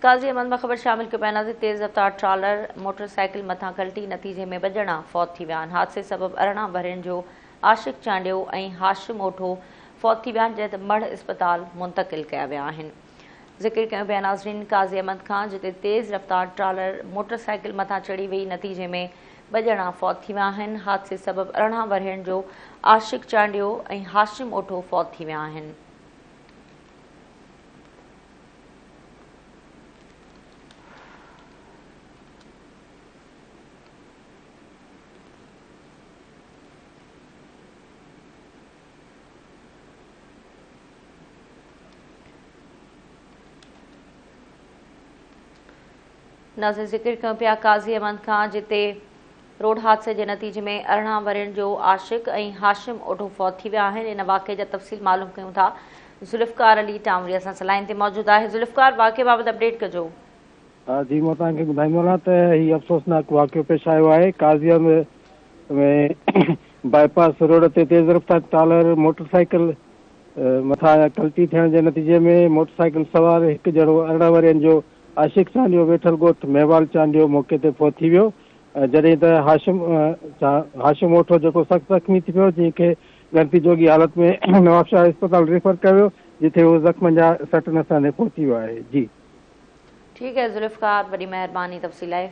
قاضي احمد مخبر شامل ڪپينا تي تيز رفتار ٽرالر موٽر سائيڪل مٿان ڪلٽي نتيجي ۾ ٻه ڄڻا فوت ٿي ويا آهن حادثي سبب ارڙهن ورهين جو عاشق چانڊيو ۽ هاشم اوٺو فوت ٿي ويا آهن جڏهن ته مڙهه اسپتال منتقل ڪيا ويا آهن ذڪر ڪيو پيا ناظرين قاضي احمد کان جتي تيز رفتار ٽرالر موٽر سائيڪل مٿان چڙهي وئي نتيجي ۾ ٻه ڄڻا فوت ٿي ويا آهن حادثي سبب ارڙهن ورهين جو عاشق چانڊيو ۽ هاشم اوٺو فوت ٿي ويا آهن ناظرين ذڪر ڪيون پيا قاضي احمد خان جتي روڊ حادثي جي نتيجي ۾ ارڙهن ورهين جو عاشق ۽ هاشم اوڍو فوت ٿي ويا آهن ان واقعي جا تفصيل معلوم ڪيون ٿا ذوالفقار علي ٽانوري اسان سان لائين تي موجود آهي ذوالفقار واقعي بابت اپڊيٽ ڪجو. جي مان توهان کي ٻڌائيندو هلان ته هي افسوسناڪ واقعو پيش آيو آهي قاضيان ۾ ۾ بائي پاس روڊ تي تيز رفتار ٽالر موٽر سائيڪل مٿان ڪلٽي ٿيڻ جي نتيجي ۾ موٽر سائيڪل سوار هڪ جهڙو ارڙهن ورهين جو عاشق چانڊيو ويٺل ڳوٺ مهوال چانڊيو موقعي تي فوت ٿي ويو جڏهن ته هاشم هاشم اوٺو جيڪو سخت زخمي ٿي پيو جنهن کي ڳڻتي جوڳي حالت ۾ نوابشاهه اسپتال ريفر ڪيو ويو جتي هو زخمن جا سٽ نساندي پهچي ويو آهي جي. ٺيڪ آهي ذوالفقار وڏي مهرباني تفصيل لاء.